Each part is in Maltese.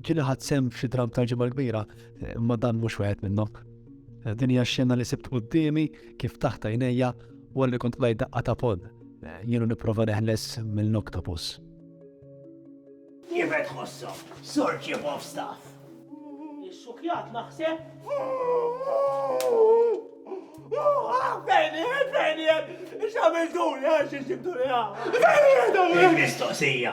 Ġili ħadd sem f'xi dram tal-ġimgħa kbira, imma dan mhux wieħed minnhom. Din hija xena li sibt qudiemi kif taħt għajnejja wara li kont qlajt daqqa ta' pon. Jienu nipprova neħles mill-oktopus. Kif qed tħossom, Sur Chief of Staff? Ix-xukjat naħseb. Fejniet, fejniet, xamiltuni għax xibtuni għaw. Fejniet, għaw. Mistoqsija.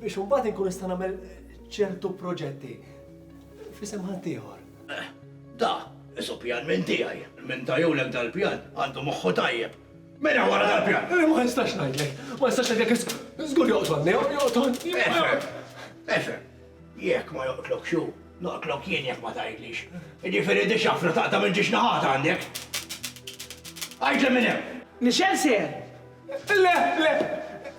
Biex imbagħad inkun nista' nagħmel ċertu proġetti f'isem ħaddieħor. Da, isu pjan minn tiegħi. Minn tajulek dal-pjan għandu moħħu tajjeb. Min hu wara dal-pjan? Eh, ma nistax ngħidlek. Ma nistax ngħidlek żgur joqtolni, joqtolni. Efhem, efhem. Jekk ma joqtlok xu, noqtlok jien jekk ma tgħidlix. Jiġifieri di xafra taqta' minn ġiex naħat għandek. Għidli minn hemm. Nixel seher. Le, le,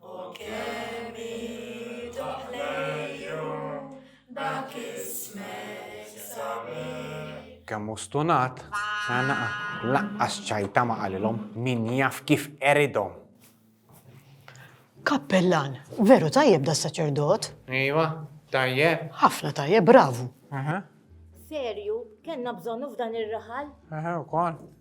O kemm iduh lejju dak ismek sabiħ. Kemm hu stunat, sa naqa' laqqas ċajta ma qalilhom, min jaf kif qeridhom. Kappellan, veru tajjeb das-saċerdot. Ejwa, tajjeb. Ħafna tajjeb, bravu. Serju, kellna bżonnu f'dan ir-raħal? Eħe, ukoll.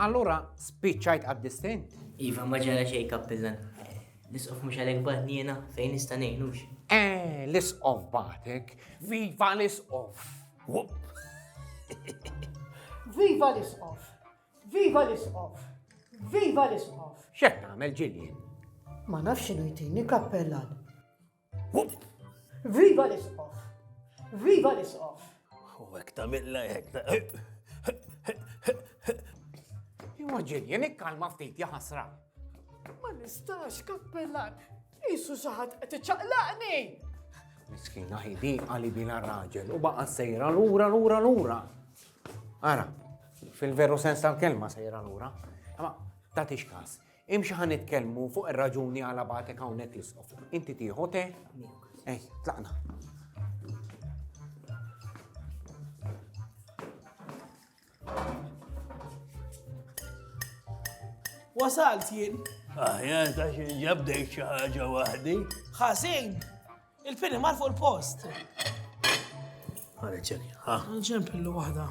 Allura spiċċajt għad-distin? Iva, ma ġara xejn kappillan. L-isqof mhux għalhekk bagħtni jiena fejn nista' ngħinux. Eh, l-isqof bagħtek. Viva l-isqof! Viva l-isqof! Viva l-isqof! Viva l-isqof! X'qed nagħmel ġilien? Ma nafx x'inhu jtini kappellan. Viva l-isqof! Viva l-isqof! U għek ta' milla jek ta' Immaġin, jen ikkalma ftit jaħasra. Ma nistax, kappellan, jisu saħat qed iċaqlaqni! Miskina ħidi għali bila raġel u baqa sejra lura lura lura. Ara, fil-veru sens tal-kelma sejra lura. Ma, ta' tixkas, Imxi ħa nitkellmu fuq ir-raġuni għala bagħtek hawnhekk l-isqof. Inti tieħu te? Ej, tlaqna. Wasalt jien. Aħjar ta' xi ġabdejt xi ħaġa waħdi. Ħażin. Il-fini mar fuq il-post. Għalek ġeni, ha? Nġempillu waħda.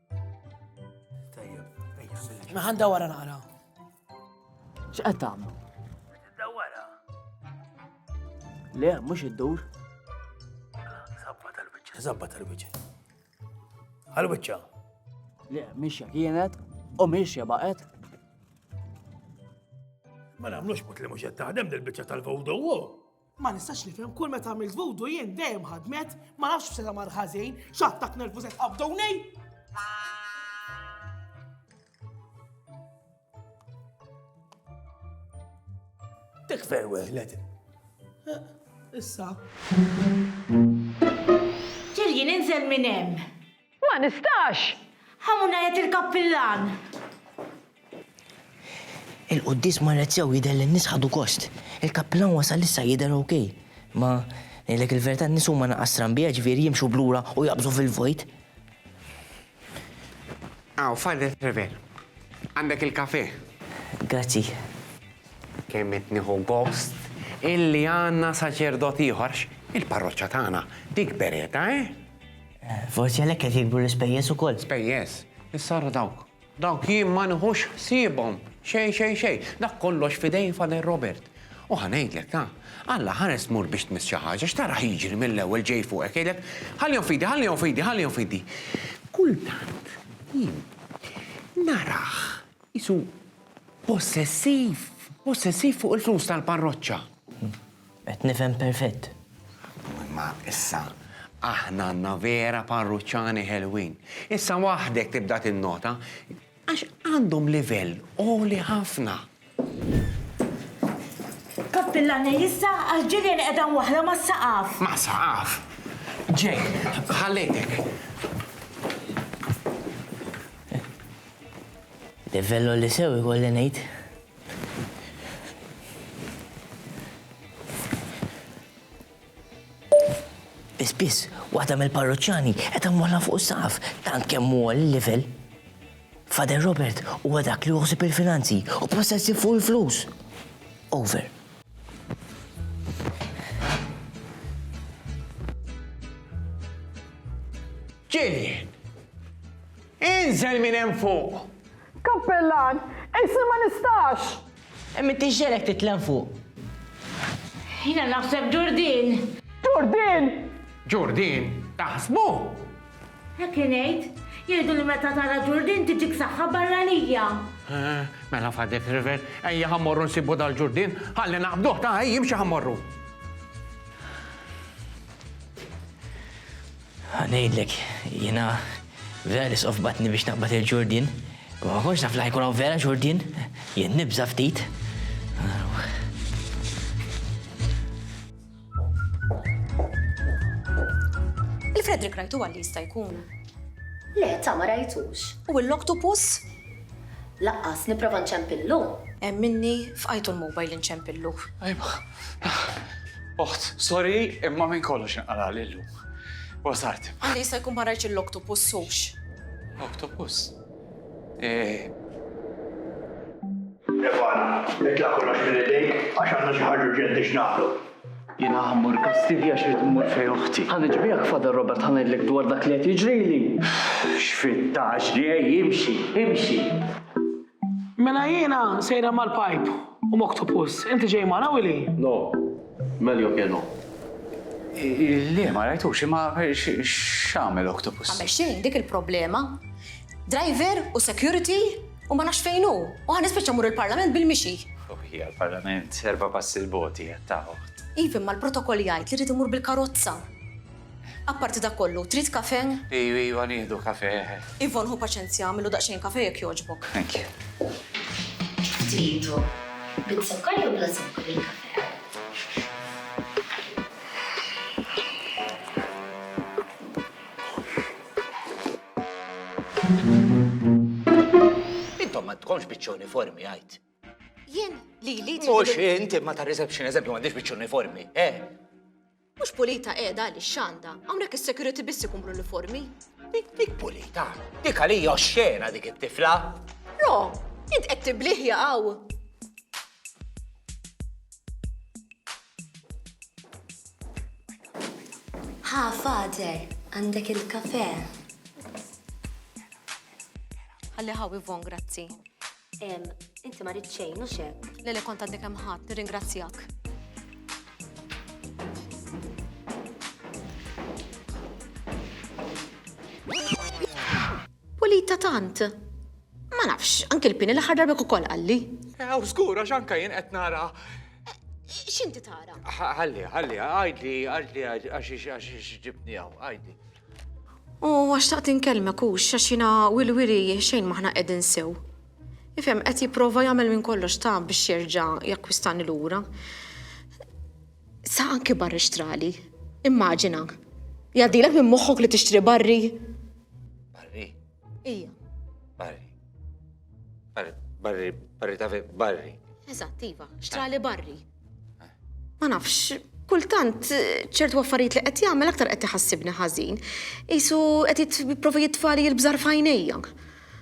Naħan dawara naqra. X'qed tagħmlu? Dawara. Le, mhux iddur. Sabba tal-biċċa, sabba tal-biċċa. Għal-biċċa. Le, mixja kienet u mixja baqgħet. Ma nagħmlux mut li mhux qed taħdem dil-biċċa tal-vodow. Ma nistax nifhem kull meta għamilt vudu jien dejjem ħadmet, ma nafx f'sena mar ħażin, x'attak nervu se tqabduni. Tikfer weħlet. Eh, issa. Ġirji ninżel minn hemm. Ma nistax! Ħamu ngħid il-kappillan! Il-quddies marret sew jidher li n-nies ħadu gost. Il-kappillan wasal issa jidher ok. Imma ngħidlek il-verità n-nies huma naqas stranbija ġifieri jimxu b'lura u jaqbżu fil-vojt. Hawn, Father Trevor. Għandek il-kafè. Grazzi. Kemm qed nieħu gost illi għandna saċerdot ieħor għax il-parroċċa tagħna tikber qiegħda, eh? Forsi għalhekk qed jikbru l-ispejjeż ukoll. Spejjeż? Issa ara dawk. Dawk jien ma nieħux ħsiebhom xejn xejn xejn. Dak kollox f'idejn Father Robert. U ħa ngħidlek, ta'. Alla, ħares tmur biex tmiss xi ħaġa, x'taraħ jiġri mill-ewwel ġej fuqek, jgħidlek, Ħallihom f'idi, ħallihom f'idi, ħallihom f'idi. Kultant jien narah qisu possessiv, possessiv fuq il-flus tal-parroċċa. Qed nifhem perfett. Imma issa aħna għandna vera parruċċani ħelwin. Issa waħdek tibda tinnota għax għandhom livell għoli ħafna. Kappillani, issa għal ġirien qiegħda waħla mas-saqaf. Mas-saqaf? Ġej, ħallejtek. Livell għoli sew ikolli ngħid. Biss biss, waħda mill-parroċċani qed għamwalla fuq saf tant kemm huwa l-livell. Fader Robert huwa dak li uħsib il-finanzi u possessi fuq il-flus. Over. Ġilien! Inżel minn hemm fuq! Kappellan, Isir ma nistax! Imma inti x'ġegħlek titlgħen fuq? Jiena naħseb Ġurdin! Ġurdin! Ġurdin, taħsbu? Hekk ingħid. Jgħidu li meta tara Ġurdin tiġik saħħa barranija. Mela fadek river, ejja ħa mmorru nsibu dal-Ġurdin, ħalli naqbduh ta' ejja imxi ħa mmorru. Ħa ngħidlek, jiena vera nisqof batni biex naqbad il-ġurdien, imma ma kontx naf li ħajkun hawn vera ġurdien, jien nibża' ftit. Il-Frederick rajtu għalli jista' jkun. Le, ta' ma rajtux. U l-oktopus? Laqqas, nipprova nċempillu. Hemm minni fqajtu l-mobile inċempillu. Ajma, oħt, sorry, imma minn kollox inqalagħli llum. Wasalt. Għandi jista' jkun ma rajtx l-oktopus sux. Oktopus? Eh. Stefana, itla' kollox minn idejk għax għandna xi ħaġa urġenti x'nagħmlu. Jiena ħammur Kastilja għax rrid immur fejn oħti. Ħa niġbihek Father Robert ħa ngħidlek dwar dak li qed jiġrili. X'fittatx ġej, imxi, imxi. Mela jiena sejra mal-pipe u m'octopus. Inti ġej magħna Willy? No. Meljo ke no. Le, ma rajtux, imma x'għamel octopus? Għamel xejn, dik il-problema. Driver u security u ma nafx fejn hu. U ħa nispiċċa mmur il-Parlament bil-mixi. Ruħi għall-Parlament, erba' passi 'l bogħod hi, għadd ta' oħt. Iva, imma l-protokol jgħid li rrid immur bil-karozza. Apparti dak kollu, trid kafè? Iju, iju, ħa nieħdu kafè, eħe. Yvonne, ħu paċenzja, agħmillu daqsxejn kafè jekk jogħġbok. Thank you. X'tridu? Biż-zokkor jew bla zokkor il-kafè? Intom m'għandkomx biċċa uniformi, għid. Jien? Lili, tridu lil. Mhux int, imma tar-reception, eżempju, m'għandhiex biċċa uniformi, eh? Mhux pulita qiegħda għaliex x'għandha? Hawnhekk is-security biss ikun bl-uniformi. Dik pulita, dik għalija oxxena dik it-tifla. Ro, int qed tibliħ jaqgħu. Ha, father, għandek il-kafe. Għalli ħaw Ivon, grazzi. Em, inti ma rid xejn, u xek. Le le kont għadni kemm ħadd, nirringrazzjak. Pulita tant. Ma nafx, anke l-pini l-aħħar darba ukoll qalli. Ew, żgur, għax anke jien qed nara. X'inti tara? Ħalli, ħalli, għajdli, għajdli għax għax ġibni hawn, għajdli. U għax taqt inkellmek hux għax jiena wilwili xejn m'aħna qegħdin sew. Ifhem qed jipprova jagħmel minn kollox ta' biex jerġa' jakkwistani lura. Sa anki barri xtrali. Immaġina. Jgħaddilek minn moħħok li tixtri barri? Barri? Ija. Barri. Barri, barri, barri ta' barri. Eżatt, iva, xtrali barri. Ma nafx, kultant ċertu affarijiet li qed jagħmel aktar qed iħassibni ħażin. Isu qed jipprova jitfali l-bżar fajnejja.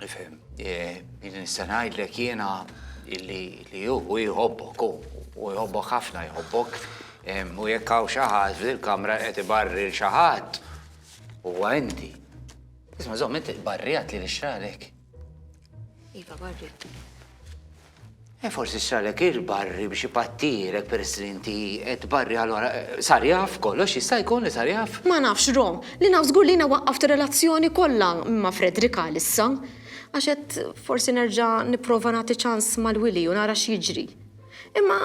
Nifhem, eh, jien nista' ngħidlek jiena illi li hu jħobbok u jħobbok ħafna jħobbok u jekk hawn xi ħadd fil-kamra qed ibarri l xi ħadd huwa inti. Isma' żomm inti barrijat li nixtralek. Iva, barri. E forsi xtralek il-barri biex ipattirek peress li inti qed barri allura sar jaf kollox jista' jkun li sar jaf? Ma nafx Rom, li naf żgur li jiena waqqaft ir-relazzjoni kollha ma' Frederick għalissa. Għax qed forsi nerġa' nipprova nagħti ċans mal-wili u nara x'jiġri. Imma.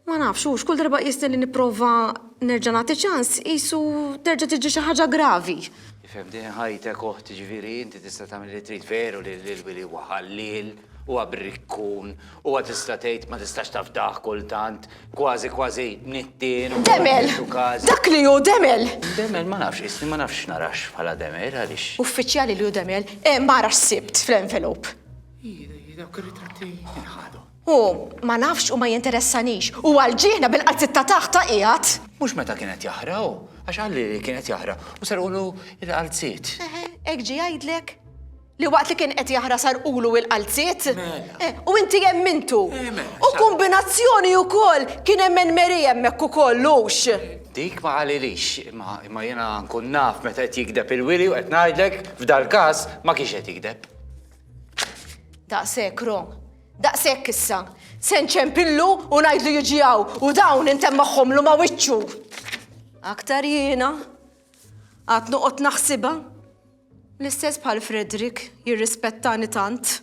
Ma nafx, hux kull darba qisni li nipprova nerġa' nagħti ċans qisu terġa' tiġi xi ħaġa gravi. Ifhem din ħajtek oħt, jiġifieri inti tista' tagħmel li trid. Veru li l-wili huwa ħalliel, huwa brikkun, huwa tista' tgħid ma tistax tafdah kultant, kważi kważi nittien u Demel! Dak li hu demel! Demel ma nafx, qisni ma nafx x'narax bħala demel, għaliex? Uffiċjali li hu demel, eh m'ara x'sibt fl-envelope! Hi, dak ir-ritratti jien ħadhom. Hu, ma nafx u ma jinteressanix. Hu għal ġieħna bil-qalziet ta' taħt ta' qiegħed. Mhux meta kien qed jaħraq hu, għax qalli li kien qed jaħraq u serqulu l-qalziet. Eħe, hekk ġie jgħidlek? Li waqt li kien qed jaħraq sarqulu l-qalziet? Mela. U inti emmintu. Eh, mela, sa. U kumbinazzjoni ukoll, kien emmen Mary hemmhekk ukoll, hux? Dik ma qalilix, imma imma jiena nkun naf meta qed jigdeb il-wili u qed ngħidlek f'dal-każ ma kienx qed jigdeb. Daqshekk, Rom. Daqshekk issa. Se nċempillu u ngħidlu jiġi hawn u dawn intemm magħhomlu ma' wiċċu. Aktar jiena għad noqgħod naħsibha. L-istess bħal Frederick jirrispettani tant.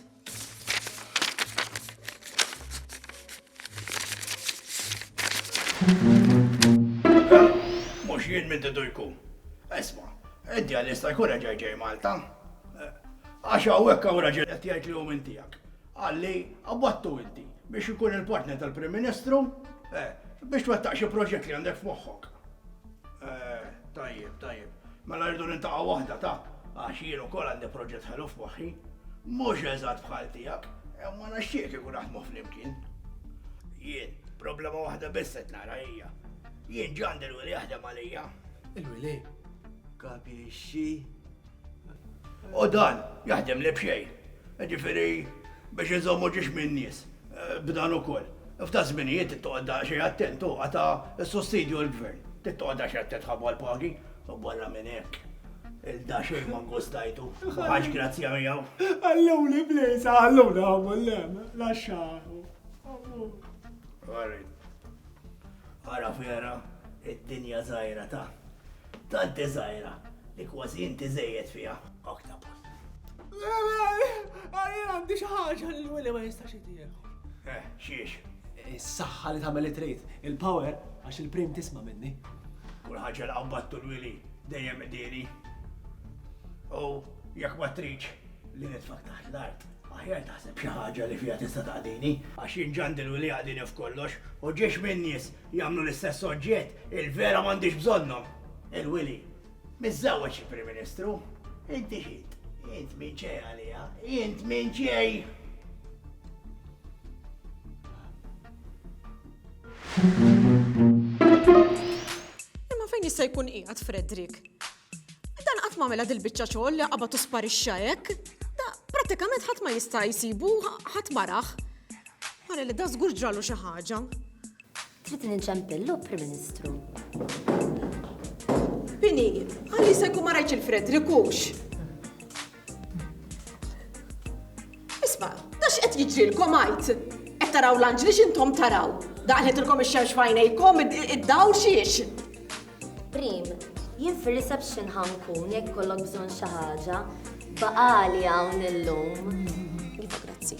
Mhux jien minn didu jkun. Isma', id-djalista jkun reġa' ġej Malta. Għax hawnhekk hawn raġel qed jgħid li hu minn tiegħek. Qal li qabadtu inti biex inkun il-partner tal-Prim Ministru biex twettaq xi proġett li għandek f'moħħok. Tajjeb, tajjeb. Mela rridu niltaqgħu waħda ta' għax jien ukoll għandi proġett ħelu f'moħħi. Mhux eżatt bħal tiegħek, imma nixtieq kieku naħdmu flimkien. Jien, problema waħda biss qed nara hija. Jien ġa għandi l-wili jaħdem għalija. Il-wili? Kapixxi? U dan jaħdem li b'xejn. Jiġifieri biex inżommu ġiex min-nies b'dan ukoll. F'da' żminijiet trid toqgħod daqsxejn attent, hu qata' s-sussidju l-Gvern. Trid toqgħod daqsxejn attent ħabba l-pagi. U barra minn hekk, il-da xejn ma nggustajtu, ma ħadtx grazzja miegħu. Ħalluni bl-għisa, ħalluna hawn u l-hemm, laxxaħu. Ara fiera, id-dinja żgħira ta'. Tant żgħira li kważi inti żejjed fiha, Octopus. Għalli għandi xi ħaġa li l-wili ma jistax jitieħu. Eh, xiex? Is-saħħa li tagħmel li trid, il-power għax il-prim tisma' minni. Kull ħaġa li qabbattu l-wili dejjem qdieli. U jekk ma tridx li nitfak taħt l-art, aħjar taħseb xi ħaġa li fiha tista' taqdini, għax jinġandi l-wili għadini f'kollox u ġiex min nies Jagħmlu l-istess oġġett, il-vera m'għandix bżonnhom. Il-wili. Miżżewweġ xi Prim Ministru. Inti x'int? Int min ċej għaliha? Int min ċej? Imma fejn jista' jkun qiegħed Fredrik? Dan qatt m'għamilha dil-biċċa xogħol li qabad u sparixxa hekk. Da prattikament ħadd ma jista' jsibu, ħadd maraħ. Mara li da żgur ġralu xi ħaġa. Trid ninċempillu, Prim Ministru. Bini, għalli se jkun ma rajtx il-Fredrikux. Isma, da x'qed jiġrilkom għajt? Qed taraw l-anġli x'intom taraw? Daqlitilkom ix-xemx fajnejkom id-dawl xiex? Prim, jien fir-reception ħankun jekk kollok bżonn xi ħaġa, baqali hawn illum. Grazzi.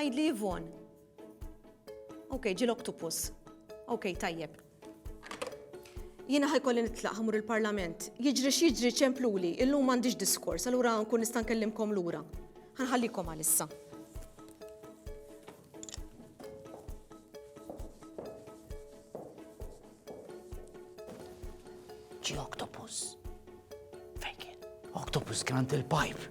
Għidli Yvonne. Ok, ġil octopus. Ok, tajjeb. Jiena ħajkolli nitlaq ħamur il-parlament. Jiġri x'jiġri ċempluli, illum m'għandix diskors, allura nkun nista' nkellimkom lura. Ħanħallikom għalissa. Ġi octopus. Fejn kien? Octopus kien għand il-pipe.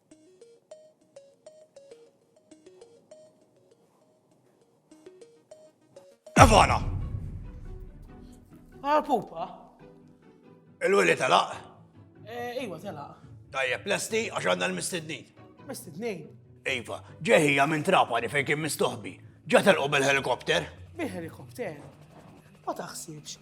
Evana! Għal ah, pupa? Il-wili telaq? Eh, iwa telaq. Tajjeb, lesti għax għandna l-mistednin. Mistednin? Iva, ġeħija minn trapani fejn kien mistoħbi. Ġatel u bil-helikopter? Bil-helikopter? Ma taħsibx,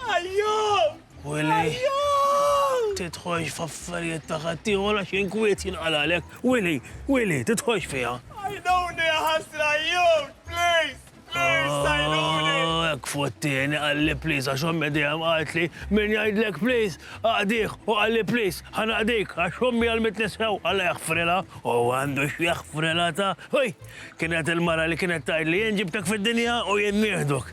Ajjut! Willy, tidħolx f'affarijiet ta' ħaddieħor għax inkwiet jinqalalek. Willy, Willy, tidħolx fiha. Għajnuni ħasra jut, please, please, għajnuni. Oh, ek fottini, għalli please, għax ommi dejjem għaltli, min jgħidlek please, għadiħ, u għalli please, ħanaqdik, għax ommi għal mitnisew, għalla jaħfrela, u għandu xjaħfrela ta' ħoj, kienet il-mara li kienet tajd li jien ġibtek fid-dinja u jien nieħduk.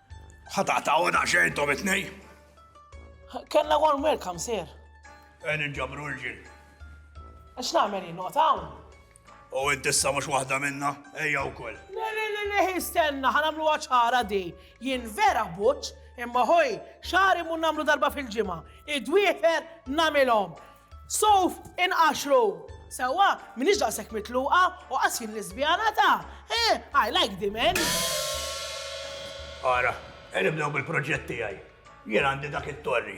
Ħa taqtgħu daqsxejn intom it-tnejn? Kellna warm welcome, sir. Qegħdin inġabru irġiel. X'nagħmel jien noqgħod hawn? U int issa mhux waħda minna, ejja wkoll. Le, le, le, le, istenna, ħa nagħmluha ċara di. Jien vera buċċ, imma ħoj, xagħri mhu nagħmlu darba fil-ġimgħa. Id-dwiefer nagħmilhom. Suf, inqaxxru! Sewwa, m'iniex daqshekk mitluqa u qas jien liżbjana ta', eh, I like the men! Ara, e nibdew bil-proġett tiegħi. Jien għandi dak it-torri.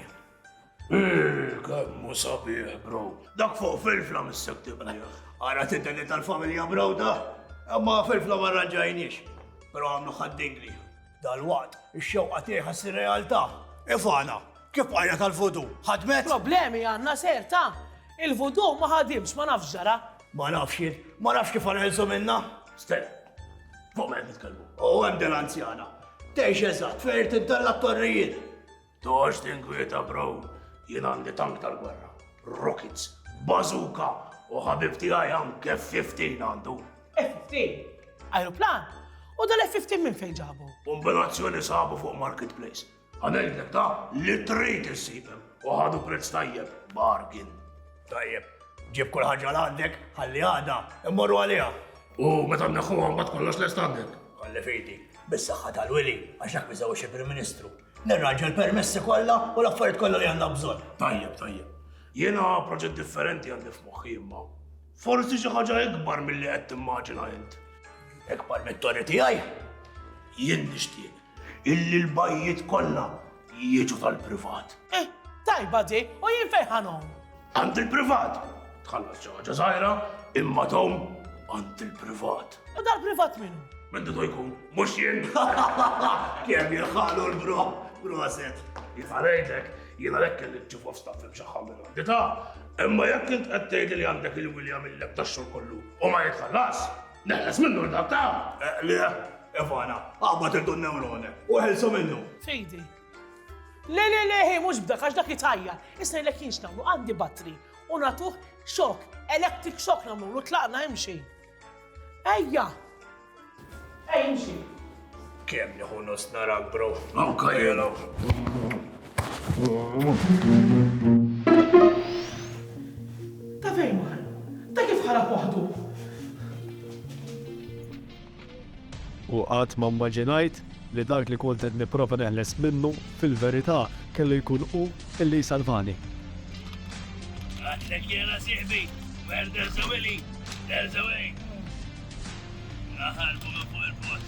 Eeh, kemm hu sabiħ, bro. Dak fuq filfla missek tibnieh. Ara titeni tal-familja bro da. Imma filfla ma rranġajniex. Però għamlu ħaddingli. Dalwaqt, ix-xewqa tiegħi ħa ssir realtà. Ivana, Kif bqajna tal-vudu? Ħadmet? Problemi għandna ser, ta? Il-vudu ma ħadimx, ma nafx x'ġara. Ma nafx jien, ma nafx kif ħanħelsu minnha. Stella, fuq ma qed nitkellmu. U hemm din l-anzjana. Tgħix eżatt fejn irid iddalla t-torrijiet. Tox tinkwieta bro, jien għandi tank tal-gwerra, rockets, bazooka u ħabib tiegħi anke 15 għandu. F-15? Aeroplan? U dal-F-15 minn fejn ġabu? Kombinazzjoni sabu fuq marketplace. Għanejdlek ta' li trid issibem u ħadu prezz tajjeb, bargain. Tajjeb, ġib kull ħaġa għandek, ħalli għada, immorru għaliha. U meta nneħħu għambat kollox l-estandek. Għalli fidi, bis-saħħa tal-wili, għax dak miżewġ il-Prim Ministru. Nirranġa l-permessi kollha u l-affarijiet kollha li għandna bżonn. Tajjeb, tajjeb. Jiena proġett differenti għandi f'moħħi imma. Forsi xi ħaġa ikbar milli qed timmaġina int. Ikbar mit-torri tiegħi? Jien nixtieq illi l-bajjiet kollha jiġu tal-privat. Eh, tajba di, u jien fejn ħanom? Għand il-privat. Tħallas xi ħaġa żgħira, imma tom għand il-privat. U dal-privat minnu? Minn didu jkun, mhux jien. Kemm jirħalu l-bro, proset. Jifalejtek, jiena lek kelli ċifu f'staff imxaħħa minn għandi ta' imma jekk int qed tgħid li għandek il-William il-lek tax-xogħol kollu u ma jitħallas, neħles minnu l-dak ta' eh, le, Evana, għabba tirdu n-newrone, u ħelsu minnu. Fejdi, Le, le, le, mhux b'dak għax dak jitħajjar. Issa jlek jinx nagħmlu għandi batri u nagħtuh xok, electric xok nagħmlu tlaqna hemm xejn. Ejja. Ejja imxi. Kemm nieħu nus narak bro. Anka jela. Ta' fejn mar? Ta' kif ħarab waħdu? U qatt ma mmaġinajt li dak li kont qed nipprova neħles minnu, fil-verità, kellu jkun hu li jsalvani. Għatlek jiena sieħbi, Mer Derza Willy, Derza Way! Naħarbu minn fuq il-post.